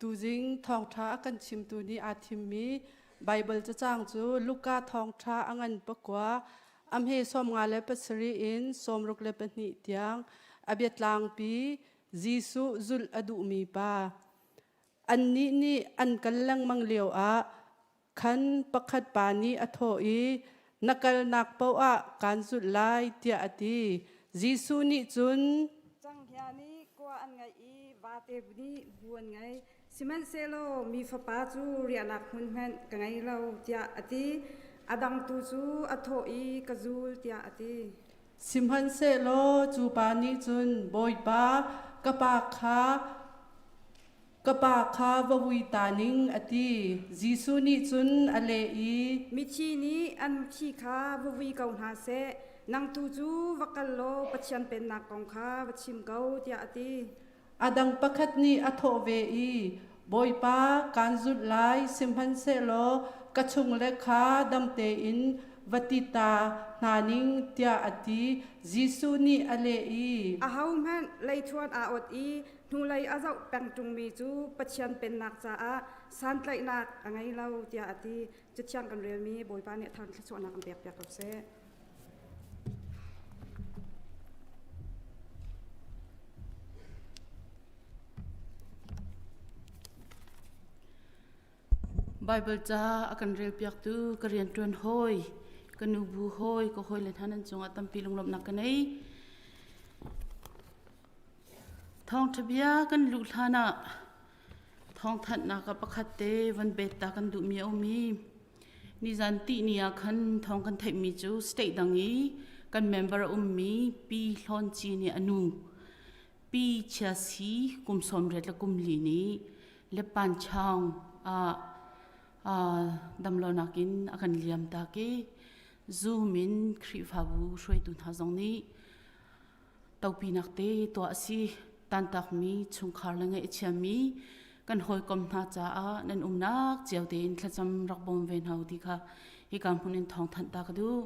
Tuzing thawngṭha a kan chimtu nih aa thimmi Baibal cacang cu Luka thawngṭha a ngan pakua, a hme sawmnga le pasarih in sawmruk le pahnih tiang, a biatlangpi, Jesuh zulh a duhmi pa. Annih nih an kal lengmang lioah Khan pakhat pa nih a thawh i, Na kalnak paoh ah kaan zulh lai, tiah a ti. Jesuh nih cun, Canghngia nih kua an ngaih i vate nih bu an ngei, sihmanhsehlaw mi Fapa cu riahnak hmun hmanh ka ngei lo, tiah a ti. A dang tu cu a thawh i, Ka zul, tiah a ti. Sihmanhsehlaw cu pa nih cun, Bawipa, ka pa kha Ka pa kha va vui ta ning, a ti. Jesuh nih cun a leh i. Mithi nih an thi kha va vui ko hna seh, nang tu cu va kal law Pathian pennak kong kha va chim ko, tiah a ti. A dang pakhat nih a thawh ve i, Bawipa, kaan zulh lai, sihmanhsehlaw ka chungle kha dam tein va ti ta hna ning, tiah a ti. Jesuh nih a leh i. Ahohmanh leithuan aa ot i hnulei a zoh peng ṭungmi cu Pathian pennak caah santlaihnak a ngei lo tiah a ti. Cathiang kan relmi Bawipa nih thar thluachuahnak an pek piak ko seh. Bible ca a kan rel piaktu ka rian ṭuan hawi, ka nu bu hawi, ka hawi le hna nan cungah tampi lunglawmhnak ka nei. Thawngṭha bia kan luh hlanah thawngthanhnak ah pakhat te van bet ta kan duhmi a um i nizan ttih ni ah khan thawng kan theihmi cu state dang i kan member a ummi Pi Hlawn Ci nih a nu Pi Chia Si kum sawm riat le kum li ni Leppan Chaung ah damlonak in a kan liam tak i Zoom in Khrihfabu hruaitu hna zong nih topinak te tuah a si tantakmi chungkhar le ngeih a chiami kan hawikom hna caah nan umnak cio tein thlacam rak bawm ve hna ti kha hi ka hmun in thawng thanh ta ka duh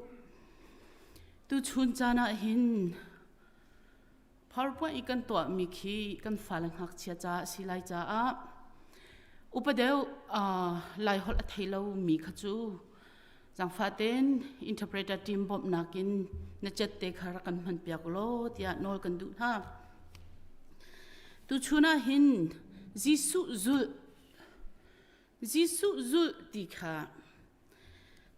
tu chun caan ah hin phorpua i kan tuahmi khi kan fale ngakchia ca a si lai caah upadeu lai holh a thei lo mi kha cu Zangfaten interpreter team bawmhnak in na cet te kha rak kan hman piak law tiah nawl kan duh hna. Tuchun ah hin Jesuh zulh Jesuh zulh ti kha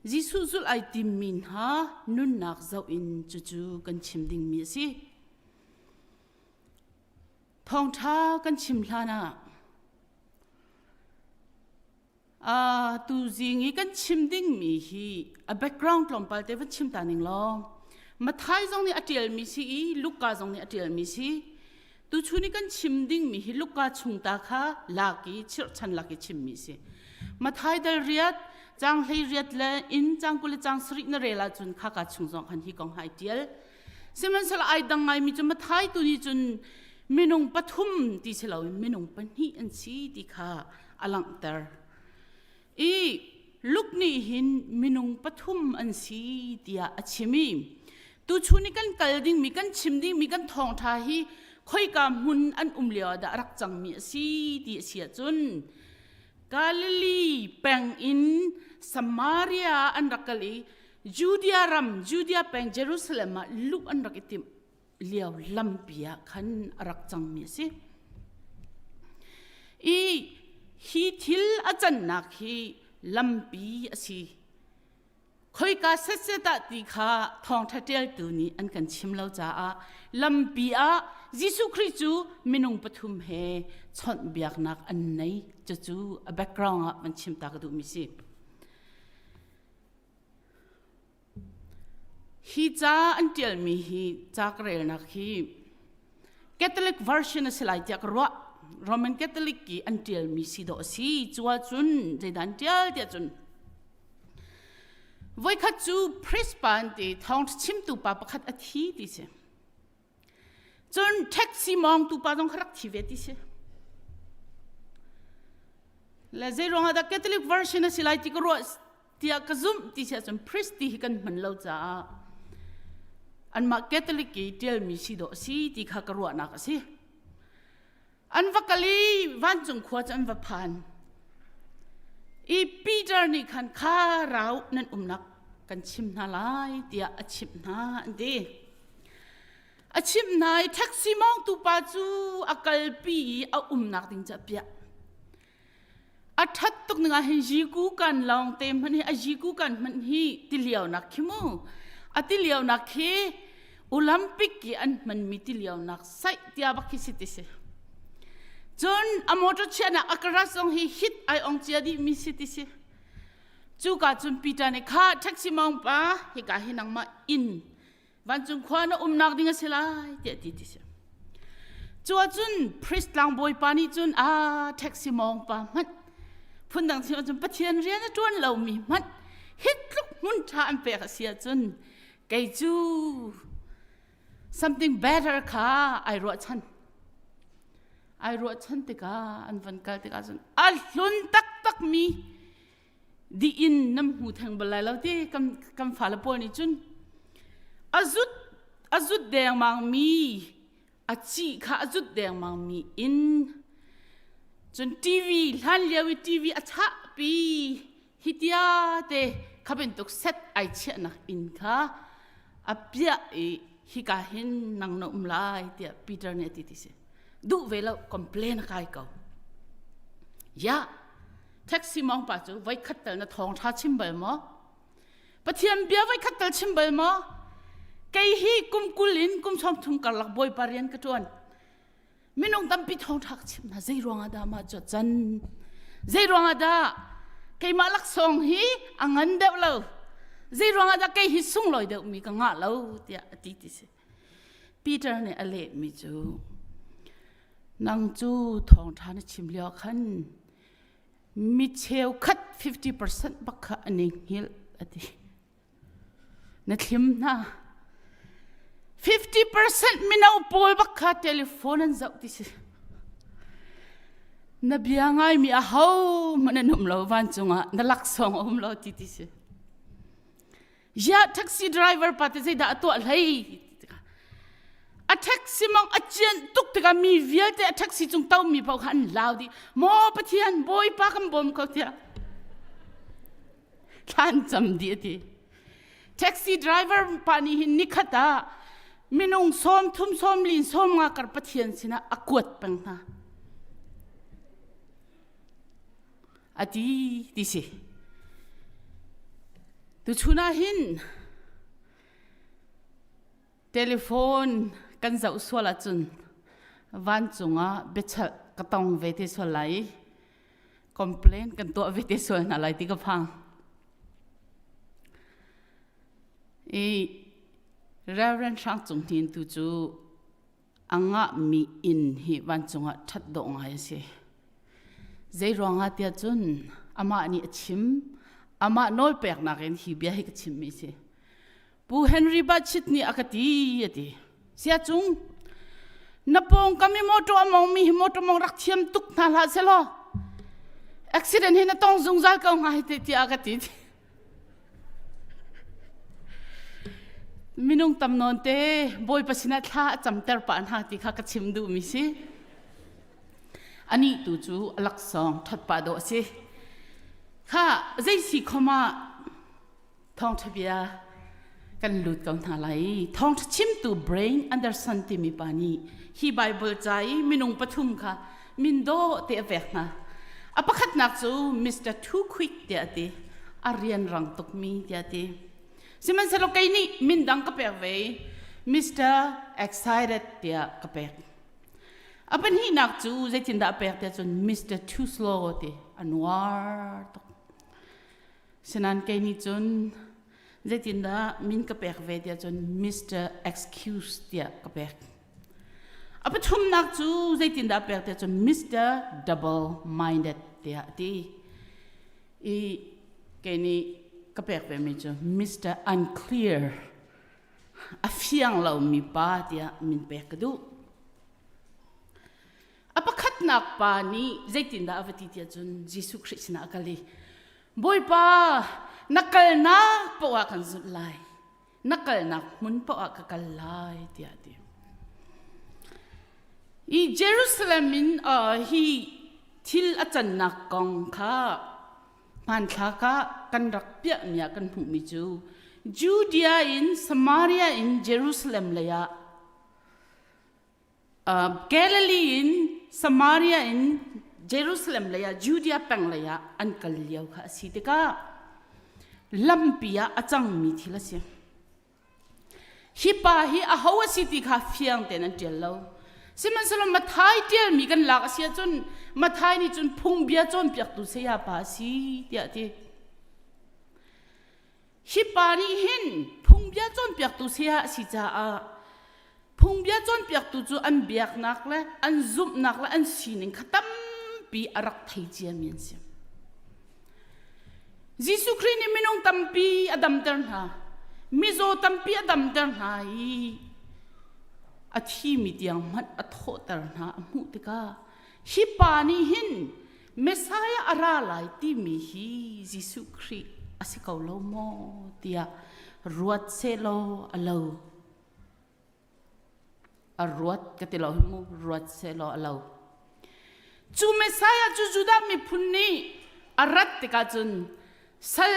Jesuh zulh ai timmi hna nunnak zoh in cucu kan chim dingmi a si. Thawngṭha kan chim hlan ah uh, tuzing i kan chim dingmi hi a background tlawmpal te va chim ta ning long mathai zong nih a tial mi si i luka zong nih a tial mi si tu chu ni kan chim dingmi hi luka chung ta kha laki chirchan laki chim mi si mathai dal riat chang hlei riat le in chang kule chang srik na rela chun kha ka chung zong han hi kong hai tial Sihmanhsala ai dang ngaimi cu mathai tu nih cun minung pathum ti si loin minung pahnih an si ti kha a langhter. I Luke nih hin minung pathum an si tiah a chim i tuchun i kan kal dingmi kan chim dingmi kan thawngṭha hi khoika hmun an um lioah dah a rak cangmi a si ti a si ahcun Galilee peng in Samaria an rak kal i Judea ram Judea peng Jerusalem ah luh an rak i tim lio lampi ah khan a rak cangmi a si. I hi thil a cannak hi lampi a si. Khoika setset ah ti kha thawngṭha ṭialtu nih an kan chim lo caah lampi ah Jesuh Khrih cu minung pathum he chawnhbiaknak an nei. Cucu a background ah man chim ta ka duhmi si. Hi ca an ṭialmi hi ca ka relnak hi Catholic version a si lai tiah ka ruah. Roman Catholic i an ṭialmi si dawh a si. Cuah cun zeidah an ṭial tiah cun voikhat cu Prispa an ti thawngṭha chimtu pa pakhat a thi ti si. Cun taxi mawngtu pa zong kha rak thi ve ti si. Le zeiruang ah dah Catholic version a si lai ti ka ruah tiah ka zumh ti si ahcun priest ti hi kan hman lo caah anmah Catholic i ṭialmi si dawh a si ti kha ka ruahnak a si. an va kal i vancung khua cu an va phan i Peter nih khan kha rau nan umnak kan chim hna lai tiah a chimh hna an ti a chimh hna i taxi mawngtu pa cu a kalpi i a umnak ding cu a piah a that tuk ning ah hin jiku kan lawng te hmanh hi a jiku kan hmanh hi tilio nak khi mu a tilio nak khi olympic ki an hman mi tilio nak sai tia bak khi si ti si cun a motor chiahnak a kara song hi hit ai ong chia di mi si ti si cu ka cun peter ne kha taxi mong pa hi ka hi nangma in vancung khua na umnak ding a si lai tiah ti ti si cu ahcun priest tlangbawi pa nih cun a taxi mawng pa hmanh phundang sin ahcun pathian rian a ṭuan lomi hmanh hi tluk hmun ṭha an pek a si ahcun kei cu something better kha ai ruahchan ai ruahchan tikah an van kal tikah cun a hlun taktakmi di in nam hmu theng bal lai lo ti kan kan fa le pawl nih cun a zut a zut dengmang mi a ci kha a zut dengmang mi in cun tv hlan lio i tv a chah pi hitia te khaben tuk set ai chiahnak in kha a piah i hika hin nang na um lai tiah Peter nih a ti ti si duh ve lo complain a kai ko ya taxi mong pa cu voi khat tal na thong tha chim bal maw pathian bia voi khat tal chim bal maw kei hi kum kul in kum chong thum karlak boi parian ka tuan minung tampi thong thak chim na zei ruanga da ma cho chan zei ruanga da keimah laksong hi angan deuh lo zei ruanga da kei hi sungloi deuh mi ka nga lo tia ti ti si Peter nih a lehmi cu, Nang cu thawngṭha na chim lioah khan mi cheukhat 50% bak kha an i hngilh, a ti. Na thlim hna. 50% mino pawl bak kha telephone an zoh ti si. Na bia ngaimi ahohmanh an um lo, vancung ah na laksawng a um lo ti ti si. ya taxi driver pa te zeidah a tuah hlei a taxi mong a cian tuk tika mi vialte a taxi cung to mi pau kha an lau di mo pathian bawipa kan bawm ko tia thlan cham di ati taxi driver pa ni hin nikhata minung som thum som lin som nga kar pathian sina a kuat peng hna ati ti si tuchun ah hin telephone kan zoh sual ahcun vancung ah biachal ka tong ve te sual lai i complain kan tuah ve te sual hna lai ti ka phang i Reverend Hrang Cung Hnin tu cu a ngahmi inn hi vancung ah ṭhat dawh ngai a si. Zeiruangah tiah cun amah nih a chim. Amah nawlpeknak in hi bia hi ka chimmi a si. Pu Henry Bachit nih a ka ti a ti. Sia cung na pawngkam i motor a mongmi hi motor mong rak thiam tuk hna hlah selaw accident hi na tong zungzal ko hnga hi te tiah a ka ti. Minung tam nawnte Bawipa sinah thla a camter pah hna ti kha ka chim duhmi si. Anih tu cu a laksawng ṭhatpa dawh a si. Kha zeisi khom ah thawngṭha bia kan lut ko hna lai i thawngṭha chimtu brain Anderson timi pa nih hi Baibal ca i minung pathum kha min dawh te a pek hna a pakhatnak cu Mr Too Quick tiah a ti a rian rang tukmi tiah a ti sihmanhsehlaw kei nih min dang ka pek ve Mr Excited tiah ka pek a pahnihnak cu zeitindah a pek tiah cun Mr Too Slow ti a nuar tuk sinain kei nih cun zeitindah min ka pek ve tiah cun Mr Excuse tiah ka pek A pathumnak cu zeitindah pek te cun Mr. Double Minded tiah a ti i kei nih ka pek vemi cu Mr. Unclear a fiang lomi pa tiah min pek ka duh. A pakhatnak pa nih zeitindah a va ti tiah cun Jesuh Khrih sinah a kal i Bawipa na kalnak poah kan zulh lai na kalnak hmun paoh ah ka kal lai tiah a ti. I Jerusalem in uh, hi thil a cannak kong kha hmanthlak ah kan rak piahmi ah kan hmuhmi cu Judea in Samaria in Jerusalem leiah Galilee in Samaria in Jerusalem lei ah Judea peng lei ah an kal lio kha a si tikah lampi ah a cangmi thil a si. Hi pa hi aho a si ti kha fiang tein an ṭial lo. Sihmanhsehlaw Mathai ṭialmi kan lak a si ahcun Mathai nih cun phungbia cawnpiaktu saya pa a si tiah a ti. Hipa nih hin phungbia cawnpiaktu saya a si caah phungbia cawnpiaktu cu an biaknak le an zumhnak le an sining kha tampi a rak thei ciami an si. Jesuh Khrih nih minung tampi a damter hna. Mizaw tampi a damter hna i a thimi tiang hmanh a thawhter hna a hmuh tikah hi pa nih hin Messiah a ra lai timi hi Jesuh Khrih a si ko lo maw tiah ruat selaw a lo a ruat ka ti lo mu ruat selaw a lo cu Messiah cu Judah miphun nih a rat tikah cun sal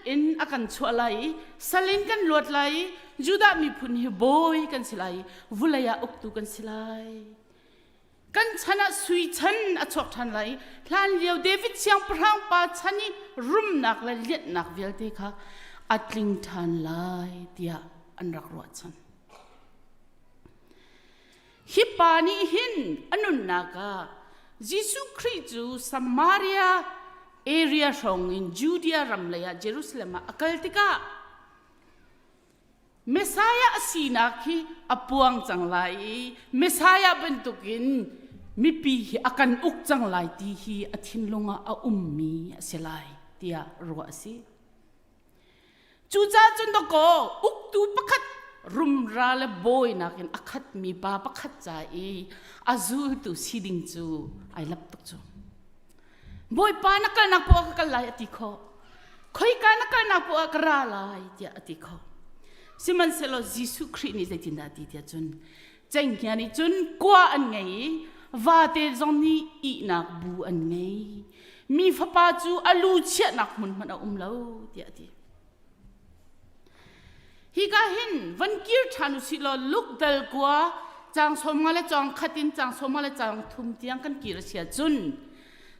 in a kan chuah lai i sal in kan luat lai i Judah miphun hi bawi kan si lai i vulei ah uktu kan si lai kan chan ah sui chan a chuak ṭhan lai i hlanlio David siangpahrang pa chan i rumnak le lianhnak vialte kha a tling ṭhan lai tiah an rak ruahchan. Hi pa nih hin a nunnak ah Jesuh Khrih cu Samaria area hrawng in Judea ram lei ah Jerusalem ah a kal tikah Messiah a sinak hi a puang cang lai i Messiah bantukin mipi hi a kan uk cang lai ti hi a thinlung ah a ummi a si lai tiah ruah a si. Cucaah cun dawkaw uktu pakhat rumra le bawinak in a khatmi pa pakhat ca i a zultu si ding cu ai lap tuk cu. Bawipa na kalnak puah ka kal lai a ti kho. Khoika na kalnak puah ka ra lai tiah a ti kho. Sihmanhsehlaw Jesuh Khrih nih zeitindah ti tiah cun cengkia nih cun kua an ngei i vate zong nih ihnak bu an ngei. Mi fapa cu a lu chiahnak hmun hmanh a um lo tiah a ti. Hika hin van kir ṭhan u sih law lukdal kua cang sawmnga le cang khat in cang sawmnga le cang thum tiang kan kir a si ahcun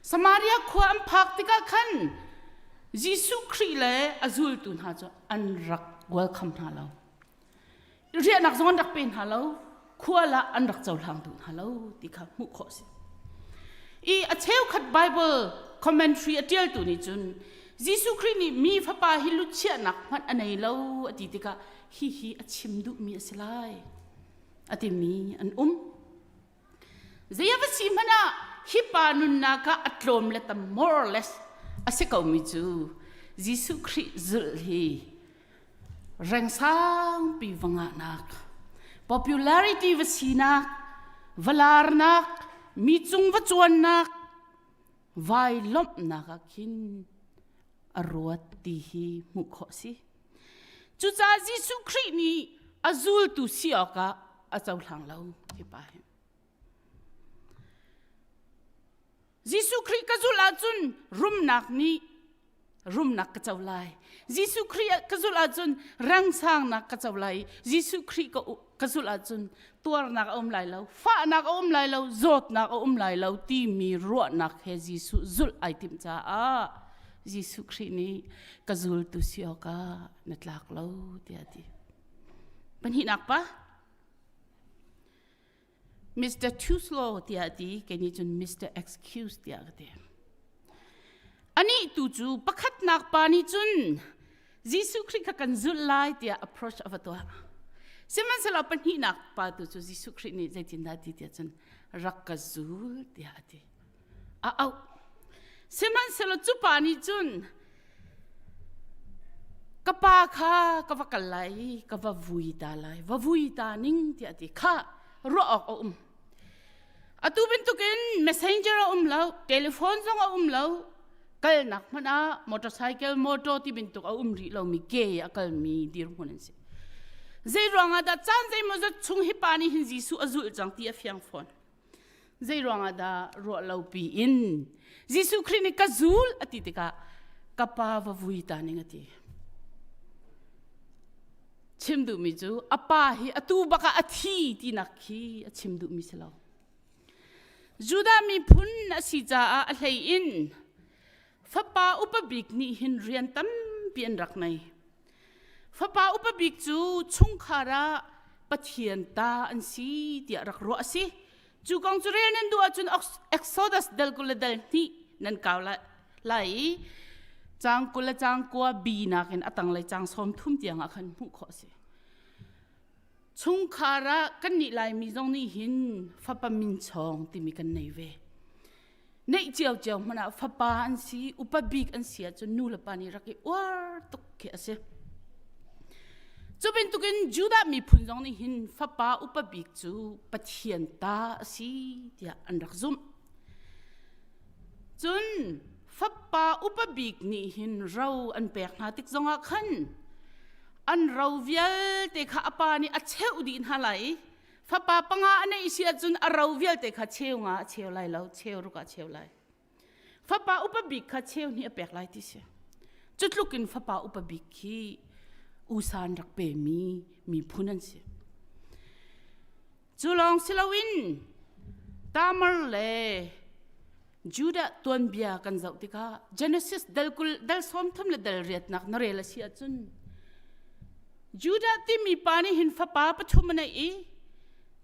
Samaria khua an phak tikah khan Jesuh Khrih le a zultu hna cu an rak welcome hna lo. riahnak zong an rak pe hna lo khual ah an rak cohlang duh hna lo ti kha hmuh khawh si i a cheukhat bible commentary a tialtu nih cun Jesuh Khrih nih mi fapa hi luchiahnak hmanh a nei lo a ti tikah hi hi a chim duhmi a si lai a timi an um Zei a va si hmanh ah hi pa nunnak ah a tlawm le tam more or less a si ko mi cu Jesuh Khrih zulh hi rengsangpi va ngahnak popularity va sinak va larnak mi cung va cuannak vai lawmhnak ah khin a ruat ti hi hmuh khawh si. Cucaah Jesuh Khrih nih a zultu si awkah a cohlang lo hipa hi. Jesuh Khrih ka zulh ahcun rumnak nih rumnak ka co lai. Jesuh Khrih ka zulh ahcun rangsangnak ka co lai. Jesuh Khrih ka zulh ahcun tuarnak a um lai lo fahnak a um lai lo zawtnak a um lai lo timi ruahnak he Jesuh zulh ai tim caah Jesuh Khrih nih ka zultu si awkah na tlak lo tiah a ti pahnihnak pa Mr. Too slow tiah a ti keni cun Mr. Excuse tiah ka ti anih tu cu pakhatnak pa nih cun Jesuh Khrih kha kan zulh lai tiah approach a va tuah. Sihmanhsehlaw pahnihnak pa tu cu Jesuh Khrih nih zeitindah ti tiah cun rak ka zul tiah a ti. A auh. Sihmanhsehlaw cu pa nih cun ka pa kha ka va kal lai i ka va vui ta lai, va vui ta ning tiah ti kha ruah awk a um. Atu bantukin messenger a um lo, telephone zong a um lo. Kalnak hmanh ah motorcycle motor ti bantuk a um rih lomi ke a kalmi dirhmun an si. Zei ruangah dah caan zeimaw zat chung hi pa nih hin Jesuh a zulh cang ti a fiang fawn. Zei ruangah dah ruah lo pi in Jesuh Khrih nih ka zul a ti tikah ka pa va vui ta ning a ti. chim duhmi cu a pa hi atu bak ah a thi tinak khi a chim duhmi si lo Judah miphun a si caah a hlei in fapa upa bik nih hin rian tampi an rak nei fapa upa bik cu chungkhar ah Pathian ta an si tiah rak ruah a si Cu kong cu rel nan duh ahcun Exodus dal kul le dal hnih nan kau lai i cang kul le cang kua bi nakin a tanglei cang sawm thum tiangah khan hmuh khawh a si. Chungkhar ah kan nih Laimi zong nih hin fapa min chawng timi kan nei ve. Neih cio cio hmanh ah fapa an si, upa bik an si ahcun nu le pa nih rak i uar tuk khi a si. Cu bantukin Judah miphun zong nih hin fapa upa bik cu Pathian ta a si tiah an rak zumh. Cun fapa upa bik nih hin ro an pek hna tik zongah khan an ro vialte kha a pa nih a cheuh dih hna lai i fapa panga a neih si ahcun a ro vialte kha cheu nga a cheu lai lo cheu ruk a cheu lai fapa upa bik kha cheu ni a pek lai ti si cu tlukin fapa upa bik khi usan rak pe mi mi phun an si cu lawng si loin tamar le Judah tuanbia kan zoh tikah Genesis dal kul dal sawm thum le dal riatnak na rel a si ahcun Judah timi pa nih hin fapa pathum a nei i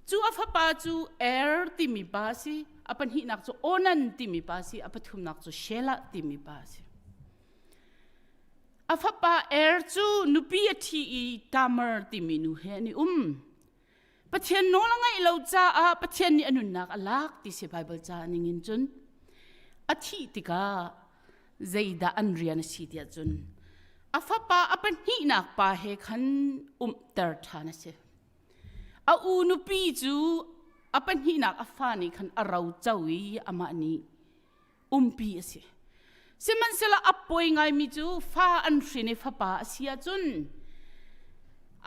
cu a fapa cu Er timi pa a si a pahnihnak cu Onan timi pa a si a pathumnak cu Shelah timi pa a si a fapa Er cu nupi a thi i Tamar timi nu he an i um Pathian nawl a ngaih lo caah Pathian nih a nunnak a lak ti si Baibal ca ning in cun a thih tikah zeidah an rian a si tiah cun a fapa a pahnihnak pa he khan umter ṭhan a si. A u nupi cu a pahnihnak a fa nih khan a roco i amah nih umpi a si sihmanhsehlaw a poi ngaimi cu fa an hrin i fapa a si ahcun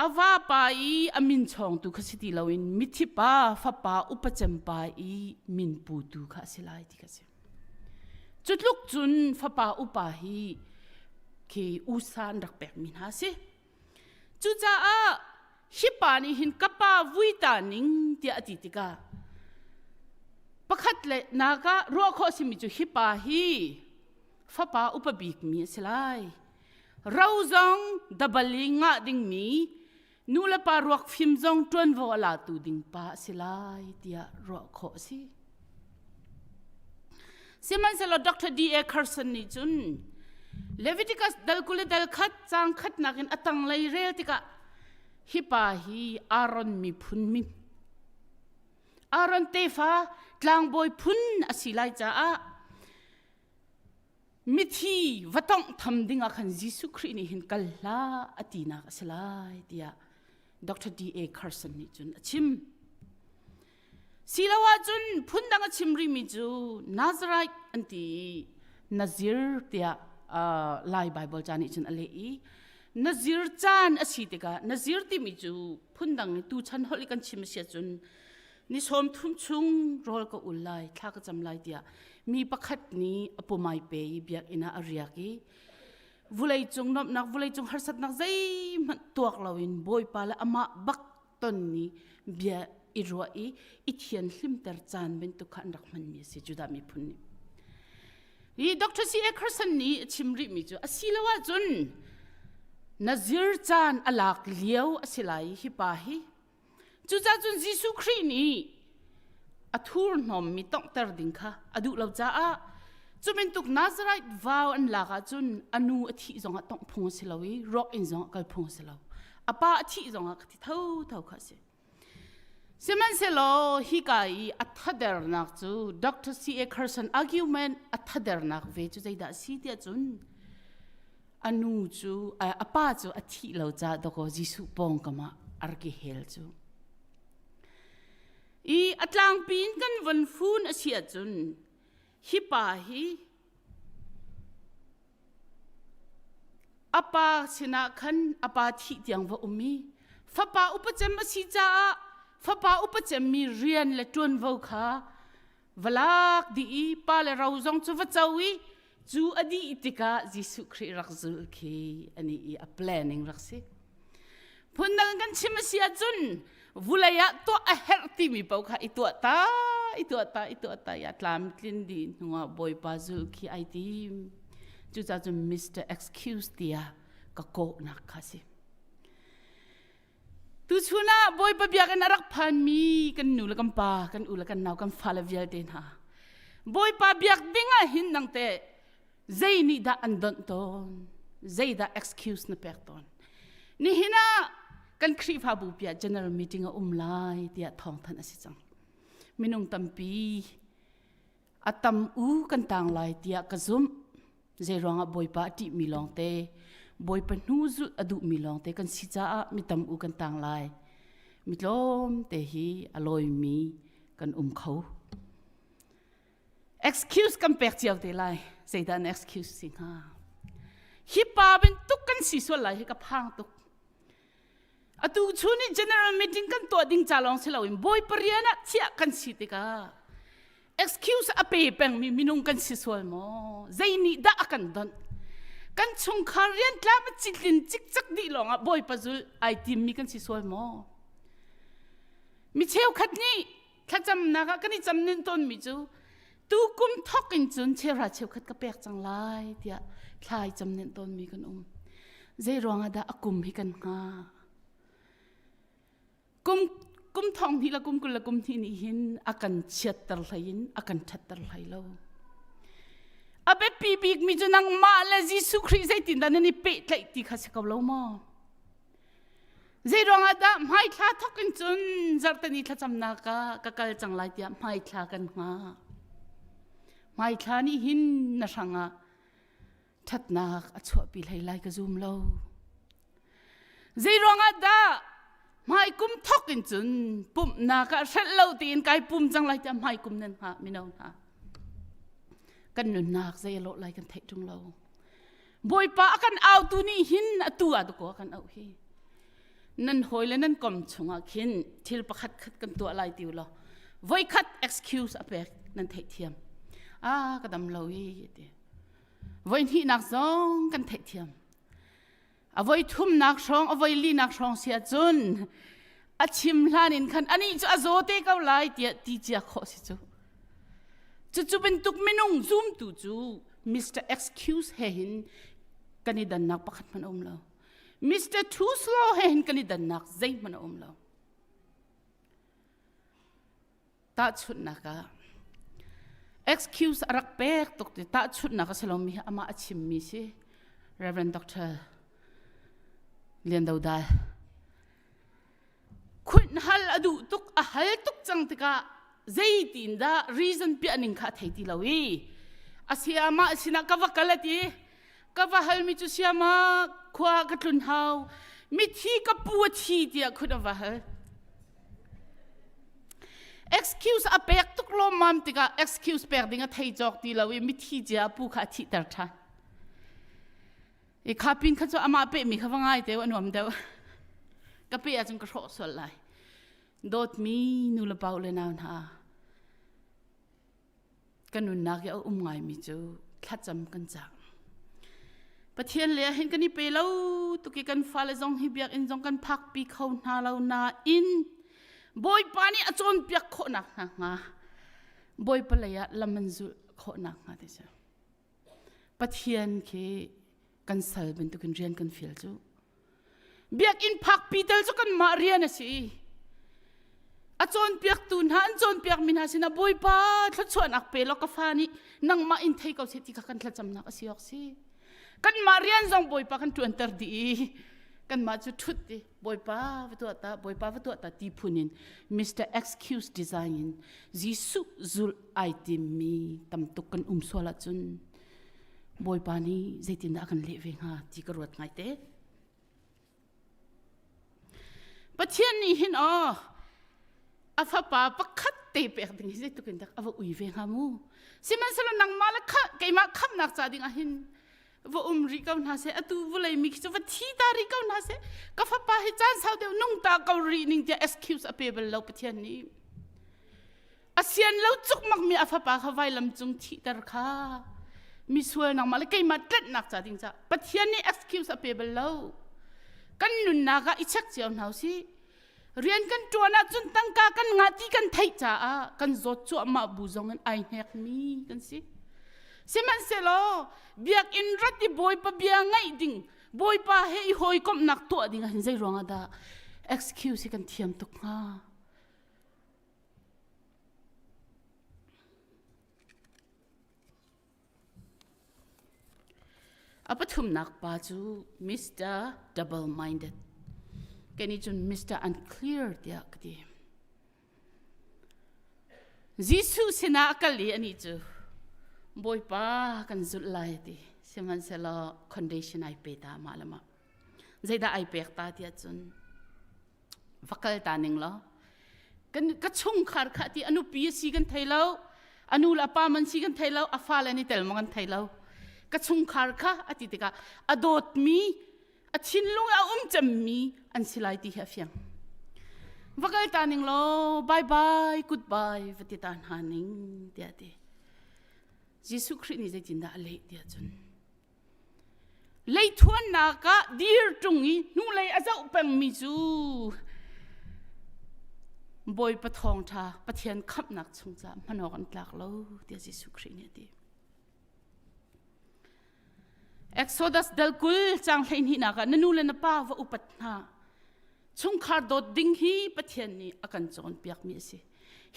a vapa i a min chawngtu kha si ti loin mithi pa fapa upacem pa i min putu kha a si lai ti ka si cu tluk cun fapa upa hi khi usa an rak pekmi hna a si Cucaah hi pa nih hin ka pa vui ta ning tiah a ti tikah pakhat le nak ah ruah khawh simi cu hi pa hi fapa upa bikmi a si lai. Ro zong dabal i ngah dingmi nulepa ruak fim zong ṭuanvo a latu ding pa a si lai tiah ruah khawh a si. Sihmanhsehlaw Dr. D. A. Carson nih cun Leviticus dal kul le dal khat cang khatnak in a tanglei rel tikah hi pa hi Aaron miphun min Aaron tefa tlangbawi phun a si lai caah mithi va tongh tham dingah khan Jesuh Khrih nih hin kal hlah a tinak a si lai tiah Dr. D. A. Carson nih cun a chim. Siloah cun phundang a chim rimi cu Nazareth an ti i Nazir tiah uh, Lai Baibal ca nih cun a leh i Nazir caan a si tikah Nazir timi cu phundang in tuchan holh i kan chim a si ahcun ni sawm thum chung rawl ka ul lai thla ka cam lai tiah mi pakhat nih a pumai pe i biakinn ah a riak i vulei cung nuamhnak vulei cung harsatnak zeihmanh tuak loin bawipa le amah bak ton ni bia i ruah i i thian hlimter caan bantuk kha an rak hmanmi a si Judah miphun nih hi Dr. C. Ackerson nih a chim rihmi cu a si lo ahcun nazir caan a lak lio a si lai hi pa hi cucacun Jesuh Khrih nih a thurhnawm mi tonghter ding kha a duh lo caah cumintuk Nazarite vau an lak ahcun a nu a thih zong ah tongh phung a si lo i rawk in zong ah kal phung a si lo a pa a thih zong ah ka ti tho tho kha a si sihmanhsehlaw hika i a thadernak cu Dr. C.A. Carson argument a thadernak ve cu zeidah a si tiah cun a nu cu a pa cu a thih lo ca doko Jesuh pawngkam ah arki hel cu I a tlangpi in kan von fun a si ahcun hi pa hi a pa sinah khan a pa thih tiang va um i fapa upacem a si caah fapa upacemmi rian le ṭuanvo kha va lak dih i pa le ro zong cu va co i cu a dih tikah Jesuh Khrih rak zul khi ani i a planning rak si phundang kan chim a si ahcun vulei ah tuah a herh timi paoh kha i tuah ta i tuah ta i tuah ta ya tlam tlin di hnuah bawipa zul khi ai tim cucacun Mr excuse tia ka kawhnak kha si Tuchun ah Bawipa biakinn a rak phanmi kan nu le kan pa, kan u le kan nau, kan fale vialte hna. Bawipa biak ding ah hin nang teh zei nih dah an donh tawn? Zeidah excuse na pek tawn? Nihin ah kan Khrihfabu piah general meeting a um lai tiah thawngthanh a si cang. Minung tampi a tam u kan tang lai tiah ka zumh zeiruangah bawipa a ṭih mi lawngte bawipa hnu zulh a duh mi lawngte kan si caah mi tam u kan tang lai mi tlawm te hi a lawi mi kan um kho excuse kan pek cio te lai zeidah an excuse si hnga hi pa bin tuk kan si sual lai hi ka phang tuk Atu chu nih general meeting kan tuah ding ca lawng si loin bawi parian ah chiah kan si tikah excuse a pe pengmi minung kan si sual maw zei nih dah a kan donh kan chungkhar rian tlam a citlin cikcak dih lawngah bawipa zul ai timmi kan si sual maw mi cheukhat nih thlacamnak ah kan i cam nin tawnmi cu tu kum thok in cun chera cheukhat ka pek cang lai tiah thlai cam nin tawnmi kan um zei ruangah dah a kum hi kan hnga kum kum thong hni la kum kul la kum hni nih hin a kan chiatter hlei in a kan ṭhatter hlei lo a biapi bikmi cu nangmah le Jesuh Khrih zeitin dah nan i pehtlaih ti kha si ko lo maw Zeiruangah dah hmaithla thok in cun zarhteni thlacamnak ah ka kal cang lai tiah hmaithla kan hngah. Hmaithla nih hin na hrang ah ṭhatnak a chuahpi hlei lai ka zum lo. Zeiruangah dah hmaikum thok in cun pumhnak ah hrelh lo tiin kai pum cang lai tiah hmaikum nan hngah mino hna. Kan nunnak zei a lawh lai kan theih ṭung lo. Bawipa a kan autu nih hin atu ah dakaw kan auh hi nan hawi le nan kom chungah khin thil pakhat khat kan tuah lai ti lo voikhat excuse a pek nan theih thiam a ka dam lo hi ti voi hnihnak zong kan theih thiam a voi thumnak hrawng a voi linak hrawng sia cun a chim hlan in khan anih cu a zaw te ko lai tiah ti cia khawh si cu cucu bantuk minung zumtu cu Mr excuse he hin kan i dannak pakhat hmanh a um lo Mr truth law he hin kan i dannak zeihmanh a um lo tahchunhnak ah excuse a rak pek tuk ti tahchunhnak a si lomi hi amah a chimmi si Reverend Doctor Lian Do Dal khunh hal a duh tuk a hal tuk cang tikah zeitin dah reason piah ning kha a thei ti lo i a si amah sinah ka va kal a ti ka va halmi cu siama khua ka tlun hau mithi ka pu a thi tiah khun a va hal excuse a pek tuk lawmmam tikah excuse pek ding a thei cawk ti lo i mithi cia a pu kha a thihter ṭhan i kha pin kha cu amah pehmi kha va ngai te u a nuam deuh ka pe ahcun ka hrawh sual lai dawtmi nu le pau le nau hna kan nunnak i a um ngaimi cu thlacam kan cak. Pathian le hin kan i pe lo tuki kan fale zong hi biakinn zong kan phak pi kho hna lo na in bawipa nih a cawnpiak khawhnak hna hnga bawipa lei ah lam an zulh khawhnak hnga ti cu. Pathian khi kan sal bantukin rian kan feel cu. Biakinn phakpi tal cu kanmah rian a si. A cawnpiaktu hna an cawnpiakmi hna sinah Bawipa thluachuahnak pe law ka fa nih nangmah in thei ko seh ti kha kan thlacamnak a si awk si. Kanmah rian zong Bawipa kan ṭuanter dih i kanmah cu ṭhut dih. Bawipa va tuah ta Bawipa va tuah ta ti phun in Mr Excuse design in Jesuh zul ai timmi tamtuk kan um sual ahcun Bawipa nih zeitindah a kan leh ve hnga ti ka ruat ngai te. Pathian nih hin aw a fapa pakhat te pek ding hi zeitluk in dak a va ui ve hnga mu. Sihmanhsehlaw nangmah le keimah khamnak ca ding ah hin va um rih ko hna se atu vulei mi khi chu va thi ta rih ko hna se ka fapa hi caan sau deuh nung ta ko ri ning tia excuse a pe bal lo pathian nih asian lo cukmak mi a fapa kha vailam cung thi tar kha mi sual nang ma le keimah tlet nak cha ding cha pathian nih excuse a pe bal lo kan nunnak ah i check cio hna u si Rian kan ṭuan ahcun tangka kan ngah ti kan theih caah kan zawt cuahmah bu zongin ai hnekmi kan si. Sihmanhsehlaw biakinn rat i bawipa bia ngaih ding bawipa he i hawikomhnak tuah ding ah hin zei ruangah dah excuse hi kan thiam tuk hnga? A pathumnak pa cu Mr. double-minded. Kei nih cun Mr. unclear tiah ka ti. Jesuh sinah a kal i anih cu Bawipa kan zulh lai a ti. Sihmanhsehlaw condition ai pe ta mah le mah. zeidah ai pek ta tiah cun va kal ta ning law kan ka chungkhar kha ti anu pi si kan thei lo anu le apa man si kan thei lo a fa le ni tel ma kan thei lo ka chungkhar kha a ti tikah a dawtmi a thinlung a um cemmi an si lai ti hi a fiang va kal ta ning law bye bye goodbye va ti ta hna ning tiah ti Jesuh Khrih nih zeitindah a leh tiah cun Leithuannak ah dir ṭung i hnulei a zoh pengmi cu Bawipa thawngṭha Pathian khamhnak chung caah hman awk an tlak lo tiah Jesuh Khrih nih a ti. Exodus dal kul cang hleihnih nak ah na nu le na pa va upat hna. chungkhar dawt ding hi Pathian nih a kan cawnpiakmi a si.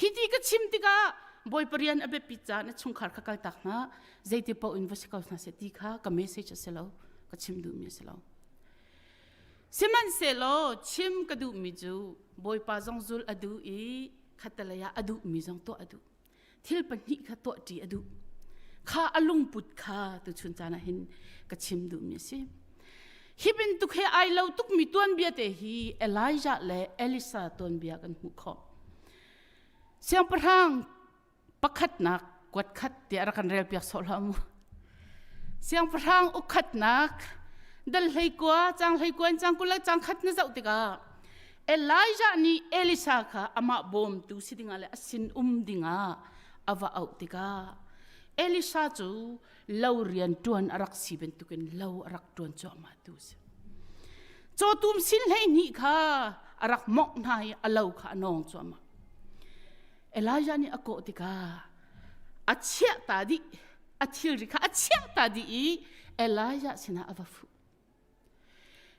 Hi ti ka chim tikah Bawi Parian a biapit caan a chungkhar kha kaltak hna zeiti paoh in va si ko hna seh ti kha ka message a si lo ka chim duhmi a si lo. Sihmanhsehlaw chim ka duhmi cu Bawipa zong zul a duh i khatalei ah a duhmi zong tuah a duh. thil pahnih kha tuah ṭi a duh kha a lungput kha tuchun caan ah hin ka chim duhmi a si hi bantuk he ai lo tukmi tuanbia te hi Elijah le Elisa tuanbia kan hmuh khawh siangpahrang pakhatnak kuat khat ti a kan rel piak sawh hlam siangpahrang ukhatnak dal hlei kua chang hlei kuan chang kula chang khat na zoh tikah Elijah nih Elisa kha amah bawmtu si dingah le a sinum dingah a va auh tikah Elisa cu lo rian ṭuan a rak si bantukin lo a rak ṭuan cuahmah tu a si. Cawtum sin hleihnih kha a rak mawngh hna i a lo kha a nawng cuahmah. Elijah nih a kawh tikah a chiah ta dih, a thilri kha a chiah ta dih i Elijah sinah a va fuh.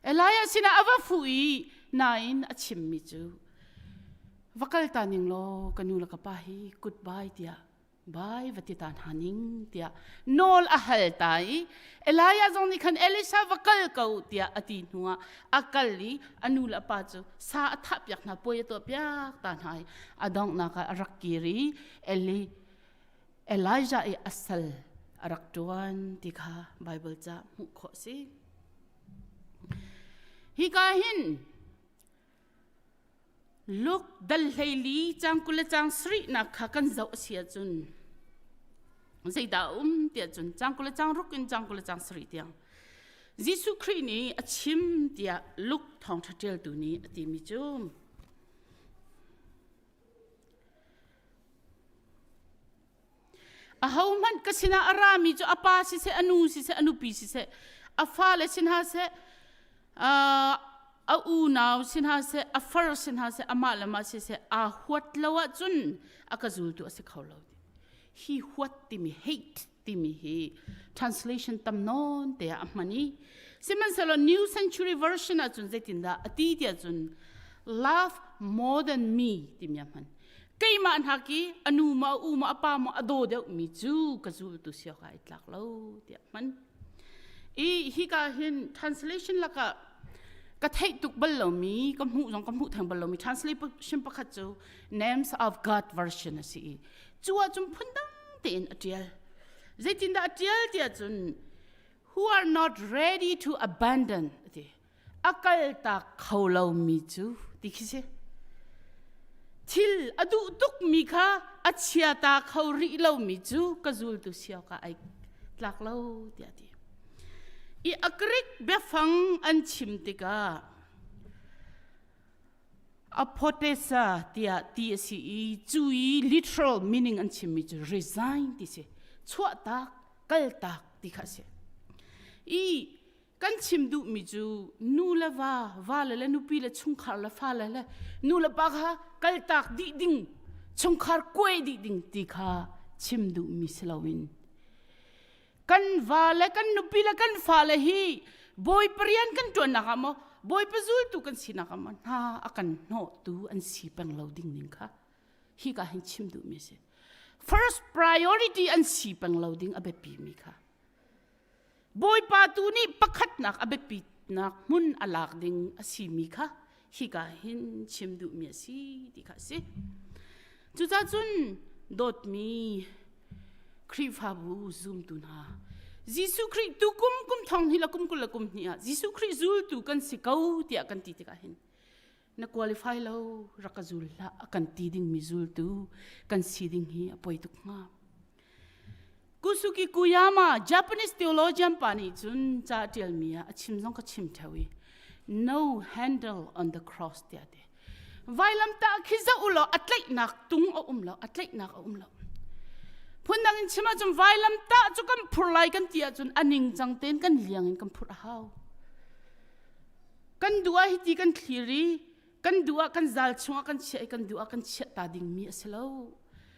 Elijah sinah a va fu i nain a chimmi cu va kal ta ning law ka nu le ka pa hi goodbye tiah bai va ti ta hna ning tiah nawl a hal ta i Elijah zong nih khan Elisha va kal ko tiah a ti hnu ah a kal i a nu le a pa cu sa a thah piak hna puai a tuah piak ta hna i a donghnak ah a rak kir i Eli Elijah i a sal a rak ṭuan ti kha Baibal ca hmuh khawh si. Hika hin Luke dal hleili cang kul le cang sarihnak kha kan zoh a si ahcun zeidah a um tiah cun cang kul le cang ruk in cang kul le cang sarih tiang Jesuh Khrih nih a chim tiah Luke thawngṭha ṭialtu nih a timi cu ahohmanh ka sinah a rami cu a pa siseh a nu siseh a nupi siseh a fale si hna seh a unau si hna seh a far si hna seh amah le mah siseh aa huat lo ahcun a ka zultu a si kho lo hi huat timi hate timi hi translation tam non te a hman i sihmanhsehlaw new century version ah cun zeitin dah a ti tiah cun love more than me timi a hman keimah hna ki anu ma u ma apa ma a do deuh mi cu ka zu tu sia ka i tlak lo tiah hman i hi ka hin translation laka ka thei tuk bal lomi ka hmu zong ka hmu theng bal lomi translation pakhat cu names of god version a si i cu ahcun phundang tein a ṭial zeitindah a ṭial tiah cun who are not ready to abandon a ti a kaltak kho lomi cu ti khi si thil a duh tukmi kha a chiata kho rih lomi cu ka zultu sio ka ai tlak lo tiah ti i a Greek biafang an chim tikah Aphotesa tiah ti a si i cu i literal meaning an chimmi cu resign ti si chuah tak kal tak ti kha a si i kan chim duhmi cu nu le va vale le nupi le chungkhar le fale le nu le pa kha kal tak dih ding chungkhar kuai dih ding ti kha chim duhmi si loin kan va le kan nupi le kan fale hi bawi parian kan ṭuannak ah maw bawipa zultu kan sinak ah maw hna a kan hnawhtu an si peng lo ding ning kha hika hin chim duhmi a si first priority an si peng lo ding a biapi mi kha bawipa tu nih pakhatnak a biapinak hmun a lak ding a si mi kha hika hin chim duhmi a si ti kha a si cucaah cun dawtmi Khrihfabu zumtu hna Jesuh Khrih tu kum kum thong hnih le kum kul le kum hnih ah Jesuh Khrih zultu kan si ko tiah kan ti tikah hin na qualify lo rak ka zul hlah a kan ti dingmi zultu kan si ding hi a poi tuk hnga Kusuki Kuyama Japanese theologian pa nih cun ca ṭialmi ah a chim zong ka chim theo i no handle on the cross tiah ti. Vailam tah khi zoh u law a tlaihnak tung a um lo, a tlaihnak a um lo. Phundang in chim ahcun vailam tah cu kan phur lai kan ti ahcun a ningcang tein kan liang in kan phur a hau. Kan dua hi ti kan thliri, kan dua kan zal chung ah kan chiah i kan dua kan chiah ta dingmi a si lo.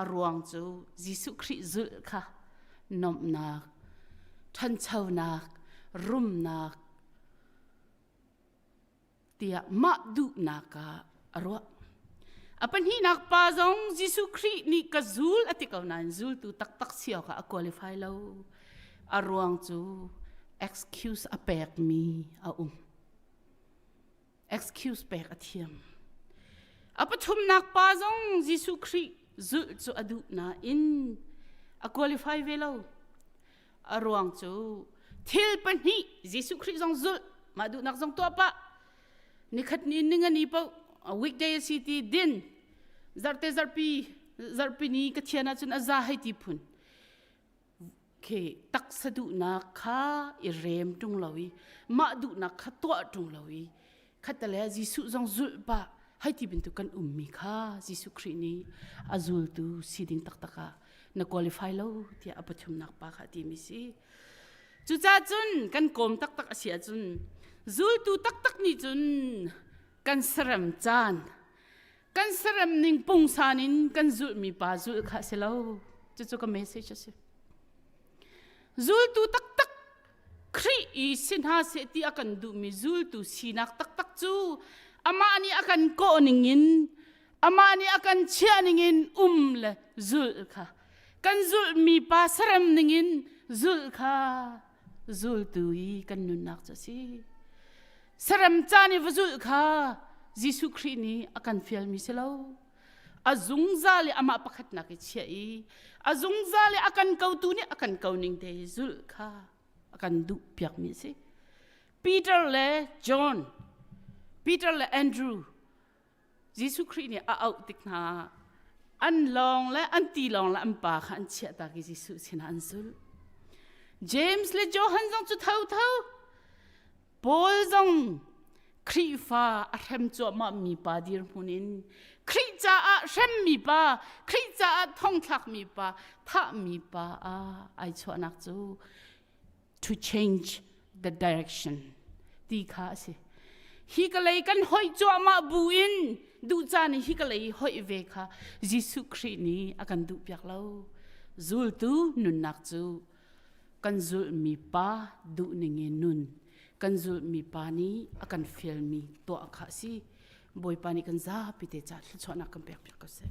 a ruang cu Jesuh Khrih zulh kha nomnak, ṭhanchonak, rumnak tiah mah duhnak ah a ruah. A pahnihnak pa zong Jesuh Khrih nih ka zul a ti ko nain zultu taktak si awkah a qualify lo. A ruang cu excuse a pekmi a um. excuse pek a thiam. A pathumnak pa zong Jesuh Khrih zulh cu a duh nain a qualify ve lo. A ruang cu thil pahnih Jesuh Khrih zong zulh mah duhnak zong tuah pah. Nikhat ni ningani po a weekday a si ti din zarte zarpi zarpi ni ka thian ahcun a za hei ti phun. khi taksa duhnak kha i rem ṭung lo i mah duhnak kha tuah ṭung lo i khatale Jesuh zong zulh pah hei ti bantuk kan ummi kha Jesuh Khrih nih a zultu si ding taktak ah na qualify lo tiah a pathumnak pa kha timi si cucah cun kan kawm taktak a si ahcun zultu taktak nih cun kan sarem caan kan serem ning pungsan in kan zulhmi pa zulh kha a si lo cucu ka message a si zultu taktak Khrih i si hna seh ti a kan duhmi zultu sinak taktak cu amah nih a kan kawh ning in amah nih a kan chiah ning in um le zulh kha kan zulhmi pa serem ning in zulh kha zultu i kan nunnak cu si saram caan i va zulh kha Jesuh Khrih nih a kan fialmi si lo a zungzal i amah pakhatnak i chiah i a zungzal i a kan kotu nih a kan koning te i zulh kha a kan duh piakmi si Peter le John Peter le Andrew Jesuh Khrih nih a auh tik hna an lawng le an ti lawng le an pa kha an chiahtak i Jesuh sinah an zulh. James le Johan zong cu thotho Paul zong Khrihfa a hrem cuahmahmi pa dirhmun in Khrih caah hremmi pa, Khrih caah thongthlakmi pa, thahmi pa ah ai chuahnak cu to change the direction ti kha a si hi ka lei kan hoih cuahmah bu in duh caan i hi ka lei hoih ve kha Jesuh Khrih nih a kan duh piak lo zultu nunnak cu kan zulmi pa duh ning in nun kan zulmi pa nih a kan fialmi tuah kha a si Bawipa nih kan zapi te ca thluachuahnak kan pek piak ko seh.